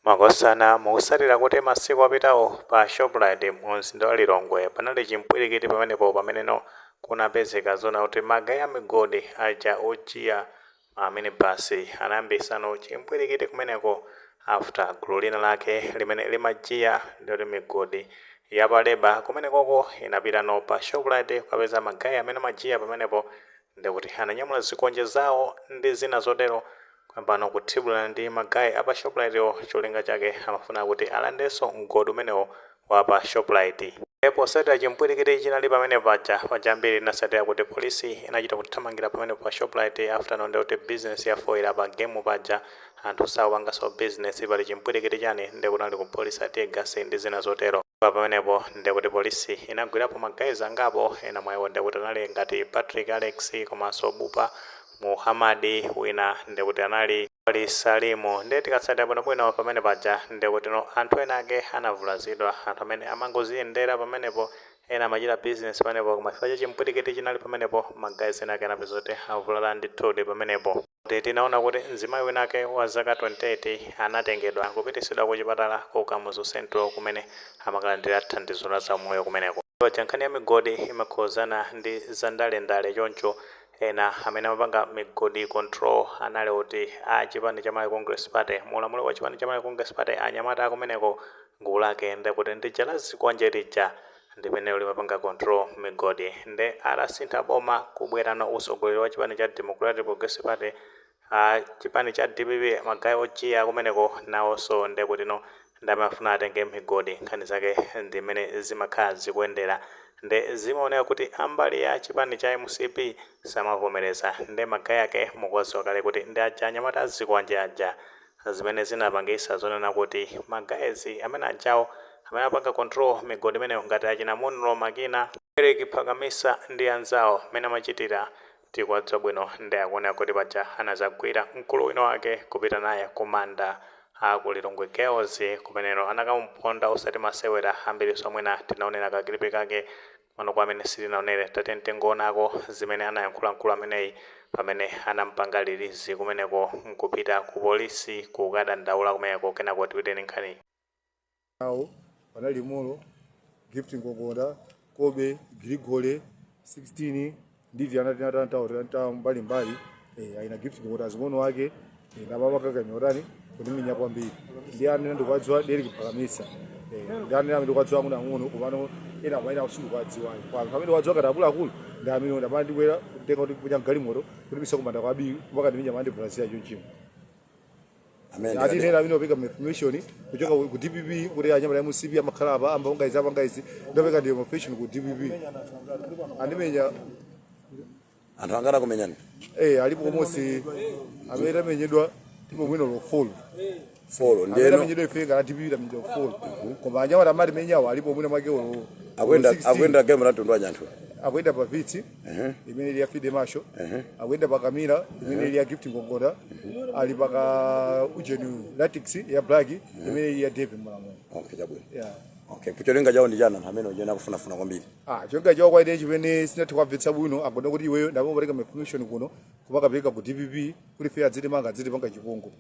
Makosana mukusatira kuti masiku apitawo pa shoprite mu mzinda wa Lilongwe panali chimpwilikiti pamenepo pameneno kunapezeka zoona kuti magaye amigodi aja ojiya ma minibus anayambisano chimpwilikiti kumeneko after gulu lina lake limene limajiya ndiloti migodi yapa labour kumenekoko inapitano pa shoprite kukapeza magaye amene amajiya pamenepo Nde kuti ananyamula zikwanje zawo ndi zina zotero kuyambano kuthibulana ndi magaye apa shoprite wo cholinga chake amafuna kuti alandenso mgodi umenewo wapa shoprite. Nde posatira chimpwilikiti chinali pamene paja, paja ambiri tinasatira kuti police inachita kuthamangira pamenepo pa shoprite after no ndekuti business yafoila pa game paja Anthu sakupanganso business pali chimpwilikiti chani nde kunali kuphulisa tear gas ndi zina zotero pamenepo nde kuti police inagwirapo ma guys angapo ena mwa iwo nde kuti anali ngati Patrick Alex komanso Bupa Muhamadi wina nde kuti anali Wali Salimu nde tikatsatira bwino bwino pamene paja nde kuti anthu ena ake anavulazidwa anthu amene amangoziyendera pamenepo ena amachita business pamenepo koma chifukwa cha chimpwilikiti chinali pamenepo ma guys ena ake anapeza kuti avulala ndithudi pamenepo. Tinaona kuti mzimayi winake wa zaka 28 anatengedwa kupitisidwa ku chipatala ku Kamuzu Central kumene amakalandira thandizo la za umoyo kumeneko. Paja nkhani ya migodi imakhuzana ndi za ndale ndale choncho ena amene amapanga migodi control anali kuti a chipani cha Malawi Congress Party. Mu ulamuliro wa chipani cha Malawi Congress Party anyamata akumeneko gulu lake ndekuti ndi lija la zikwanje lija. Ndimene ulimapanga control migodi nde atasintha boma kubwerano usogoleri wa chipani cha Democratic Progressive Party a chipani cha dpp magaye ojiya kumeneko nawonso ndekutino ndamafuna atenge migodi nkhani zake ndimene zimakhala zikuyendera nde zimaoneka kuti ambali ya chipani cha mcp samavomereza nde magaye ake mukuwadziwa kale kuti ndi aja anyamata azikwanje aja zimene zinapangisa zonena kuti ma guys amene ajawo amene apanga control migodi imeneyo ngati achina Munlo Makina, Eric Phakamisa ndi anzawo mmene amachitira tikuwadziwa bwino nde akuoneka kuti paja anadzagwira mkulu wina wake kupita naye ku manda a ku Lilongwe Girls kumeneko anakamuphonda osati masewera ambirinso mwina tinaonera ka clip kake Mano kwa amene sitinaonere, tatiyeni tingoonako zimene anayankhula mkulu ameneyi pamene anamupanga release kumeneko nkupita ku police kukadandaula kumeneko kenako tipite ndi nkhaniyi. nawo panali Molo, Gift Ngongonda, Kobe, Grigole, 16, ndivi anatantanta mbalimbali eh, wina Gift kuti azing'ono wake eh, nababa kakanya utani kundimenya kwambiri ndi amene ndikuwadziwa Eric Phakamisa Eh, ndi amene amene ndikuwadziwa ang'ono ang'ono komano ena amaina sindikuwadziwayo kwa anthu amene wadziwa kati akuluakulu ndi amene ndamana ndikwera kutenga kuti kunya mgalimoto kuti misa kumanda kwa Biwi mpaka kundimenya mandi brazil chonchimo Amen. ati nena amene opereka information kuchoka ku ku dpp kuti anyamata a mcp amakhala apa amapanga izi apanga izi ndopeka ndi information ku dpp andimenya Anthu angati akumenyani. eh alipo komosi amene tamenyedwa tipo mwina lofolo Follow amene ndeno. tamenyedwa ife ngati a dpp tamenyedwa lofolo koma anyamata amatimenyawo alipo mwina mwake olo akwenda 16. akwenda game la mtundu wa nyanthu akuyenda pa Vitz Ehe. imene ili ya fide masho Ehe. akuyenda pa ka Mira imene ili ya gift ngongoda ali pa ka ujeni Ractis ya black imene ili ya dave mulamulo Okay, chabwino. yeah. Okay, kucholinga chawo ndi chani amene ujena kufunafuna kwambiri. Ah, cholinga chawo kwa ine chimene sindinathe kuwamvetsa bwino agoda kuti iweyo ndamapereka information kuno kumakapereka ku dpp kuti ife adzitimanga adzitipanga chipongwe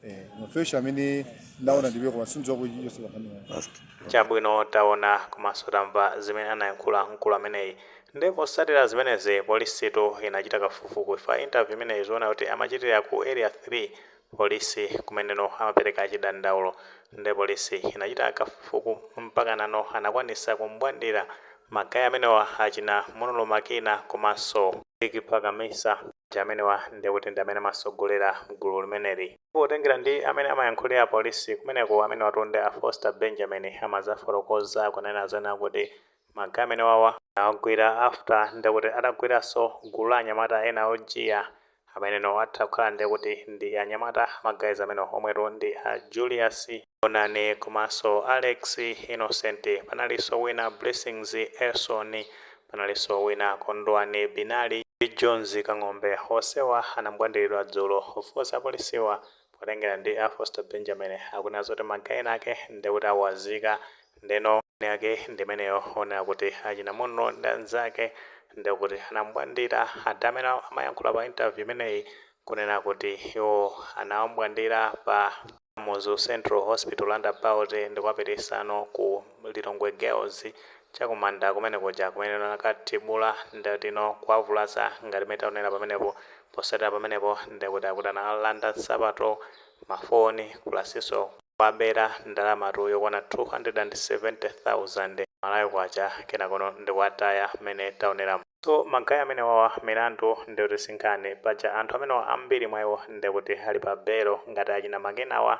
eh mafesi amene ndaona ndiwe koma sindizo kuti yesu kafanira basi chabwino taona komanso tamva zimene anayankhula mkulu ameneyi nde potsatira zimenezi polisitu inachita kafukufuku pa interview imeneyi zoona kuti amachitira ku area 3 polisi kumeneno amapereka chidandaulo nde polisi inachita kafukufuku mpaka nano anakwanisa kumbwandira Ma guy amenewa achina Munlo Makina komanso Eric Phakamisa aja amenewa ndiye kuti ndi amene amasogolera gulu limeneli. Potengera ndi amene amayankhulira Police kumeneko amenewatu ndi a Foster Benjamin amazafotokoza kunena zonena kuti ma guy amenewawa awagwira after ndiye kuti atagwiranso gulu la anyamata ena ojiya Ameneno atha kukhala ndiye kuti ndi anyamata ma guys amenewo omwetu ndi a Julius Onani komanso Alex Innocent, panalinso wina Blessings Elson, panalinso wina Kondwani Binali ndi Jones Kang'ombe onsewa anambwandiridwa dzulo of course apolisiwa Potengera ndi a Foster Benjamin akunena zoti ma guy ena ake ndekuti awazika ndeno nkhani yake ndimeneyo onena kuti achina Munlo ndi anzake ndekuti anambwandira ada amene amayankhula pa interview imeneyi kunena kuti iwo anawambwandira pa Kamuzu Central Hospital roundabout ndikuwapititsano ku Lilongwe Girls chakumanda kumene kuja kumene anakathibula ndeno kuwavulaza ngati mmene taonera pamenepo. Posathera pamenepo nde kuti akuti anawalanda nsapato, ma phone pulasinso kuwabera ndalamatu yokwana 270,000 Malawi Kwacha kenakono ndikuwataya mmene taoneramu. So ma guy amenewawa milandu nde kuti sinkhani paja anthu amenewa ambiri mwa iwo nde kuti ali pa belo ngati achina Makinawa.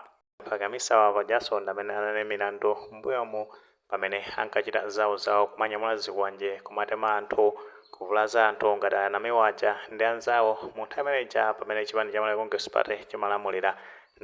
Phakamisawa pajanso ndamene anali ndi milandu mmbuyomu pamene ankachita zawo zawo kumanyamula zikwanje kumatema anthu, kuvulaza anthu ngati a Namiwa aja ndi anzawo munthawi imene ija pamene chipani cha Malawi Congress Party chimalamulira.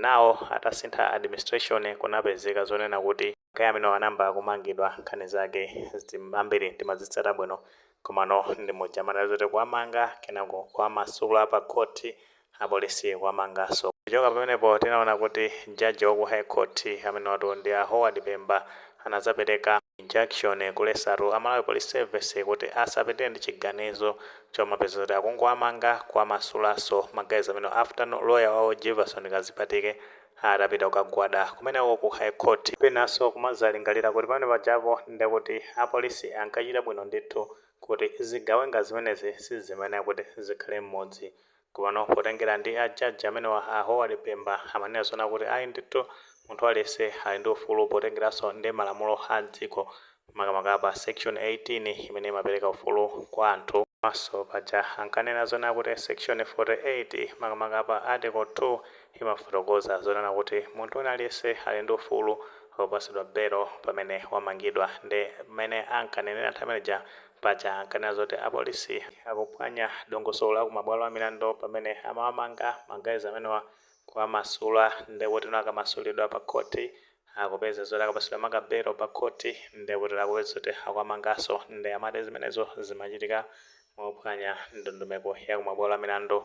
Now atasintha administration kunapezeka zonena kuti. magaya amene anayamba kumangidwa nkhani zake ambiri timazitsata bwino komano ndi muja amanena zoti kuwamanga kenako kuwamasula pa khothi apolisi kuwamanganso. Kuchoka pamenepo tinaona kuti judge wa ku High Court amenewatu ndi a Howard Pemba anadzapereka injunction kuletsatu a Malawi Police Service kuti asapitirire ndi chiganizo chomapeza zoti akungowamanga kuwamasulanso ma guys amenewa after lawyer wawo Jivason Kazipatike atapita kukagwada kumeneko ku High Court. Penanso kumadzalingalira kuti pamene pajapo nde kuti apolisi ankachita bwino ndithu kuti zigawenga zimenezi sizimayenera kuti zikhale m'mudzi. Komano potengera ndi a judge amenewa, a Howard Pemba, amanena zoona kuti ayi ndithu munthu aliyense ali ndi ufulu potengeranso ndi malamulo a dziko makamaka pa Section 18 imene imapereka ufulu kwa anthu. Komanso paja ankanena zonena kuti Section 48, makamaka pa Article 2, imafotokoza zonena kuti munthu wina aliyense ali ndi ufulu wopatsidwa belo pamene wamangidwa. Nde mmene ankanenera nthawi imene ija, paja ankanena zoti apolisi akuphwanya dongosolo la ku mabwalo a milandu pamene amawamanga ma guys amenewa kuwamasula. Nde kutino akamasulidwa pa khothi, Akupeza zoti akapatsidwa maka belo pa khothi nde kuti akupeza zoti akuwamanganso nde amati zimenezo zimachitika mophwanya ndondomeko ya ku mabwalo a milandu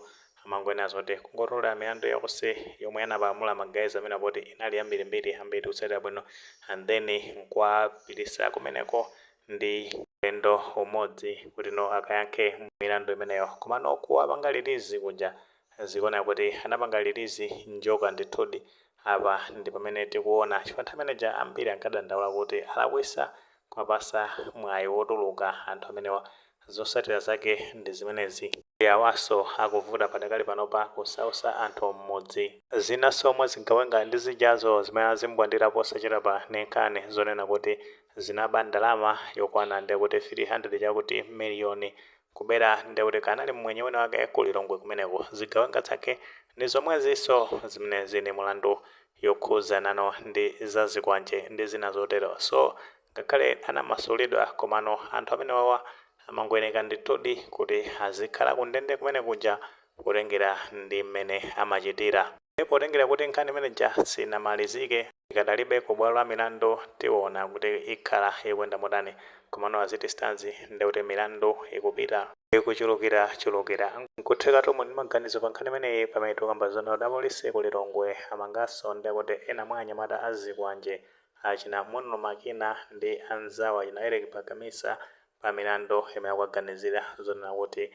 amangonena zoti kungotolera milandu yonse yomwe anapalamula ma guys amenewa poti inali yambirimbiri ambiri tikutsatira bwino and then nkuwapitisa kumeneko ndi ulendo umodzi kuti no akayankhe milandu imeneyo komano kuwapanga release kuja Zikuoneka kuti anapanga release njoka ndithudi. Apa ndi pamene tikuona chifukwa nthawi imene ija ambiri ankadandaula kuti alakwitsa kuwapatsa mwayi wotuluka anthu amenewa. Zotsatira zake ndi zimenezi. Ndi awanso akuvuta padakali panopa kusautsa anthu mmudzi. Zinanso mwa zigawenga ndi zijazo zimene azimbwandira posachedwapa ndi nkhani zonena kuti zinaba ndalama yokwana ndekuti 300 chakuti million Kubera nde kuti kanali mmwenye wina wake ku Lilongwe kumeneko. Zigawenga zake ndi zomwezinso zimene zili ndi milandu yokhudzananso ndi za zikwanje ndi zina zotero. So ngakhale anamasulidwa komano anthu amenewawa amangoyeneka ndithudi kuti azikhala kundende kumene kuja kutengera ndi mmene amachitira. Ndiye potengera kuti nkhani imene ija sinamalizike, ikadalibe ku bwalo la milandu, tiona kuti ikhala ikuyenda motani. Komano as it stands nde kuti milandu ikupita ikuchulukira chulukira. Nkuthekatu muli ndi maganizo pa nkhani imeneyi pamene tikukamba zonena kuti apolisi ku Lilongwe amanganso nde kuti ena mwa anyamata a zikwanje achina Munlo Makina ndi anzawo achina Eric Bagamisa pa milandu imene akuwaganizira zonena kuti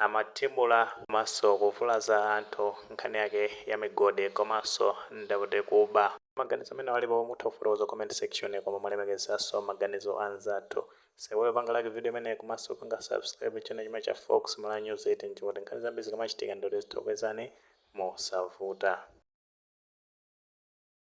Amathibula komanso kuvulaza anthu nkhani yake ya migodi komanso nde kuti kuba. Maganizo amene alipo mutha kufotokoza comment section koma molemekezanso maganizo a anzathu. Musaiwale kupanga like video imeneyi komanso kupanga subscribe channel chimene cha Fox Malawi News 18 n'kuti nkhani zambiri zikamachitika nde kuti zitha kukupezani mosavuta.